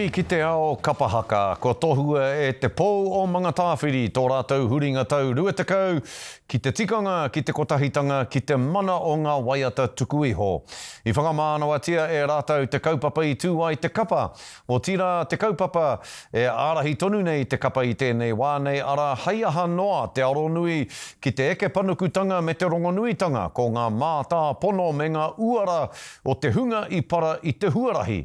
Huri ki te ao kapa haka, kua tohua e Te Pou o Mangatāwhiri tō rātou huringa tau rua tekau ki te tikanga, ki te kotahitanga, ki te mana o ngā waiata tuku iho. I whakamānawatia e rātou te kaupapa i tū ai te kapa, otirā te kaupapa e ārahi tonu nei te kapa i tēnei wā nei, arā, hei aha noa te aronui ki te eke panukutanga me te rongonuitanga, ko ngā mātāpono me ngā uara o te hunga i para i te huarahi,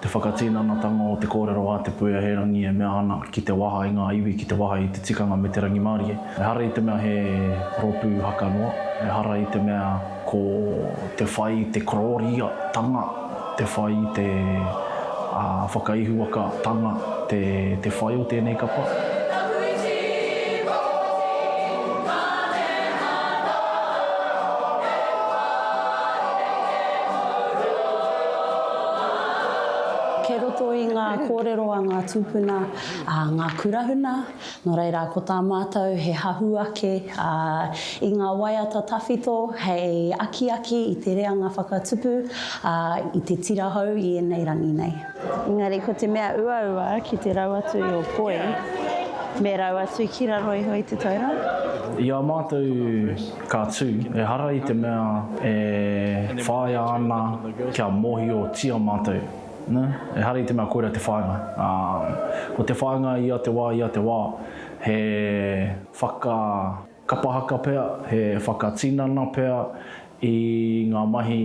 Te whakatinanatanga o te kōrero a Te Puea He Rangi e mea ana ki te waha i ngā iwi, ki te waha i te tikanga me te rangimārie. Ehara i te mea he rōpū haka noa, ehara i te mea ko te whai i te kororia-tanga, te whai i te whakaihuwaka-tanga te whai o tēnei kapa. Kei roto i ngā kōrero a ngā tūpuna ngā kurahuna, nō reira ko tā mātou he hahu ake i ngā waiata tawhito hei akiaki i te reanga whakatupu i te tira hou i ēnei rangi nei. Engari ko te mea uaua ki te rau atu i ō poi, me rau atu ki raro iho i te taura. I a mātou Ka tū, ehara i te mea e whāia ana kia mōhiotia mātou, ehara i te mea koirā te whāinga, ā, ko te whāinga ia te wā, ia te wā, he whakakapahaka pea, he whakatinana pea i ngā mahi.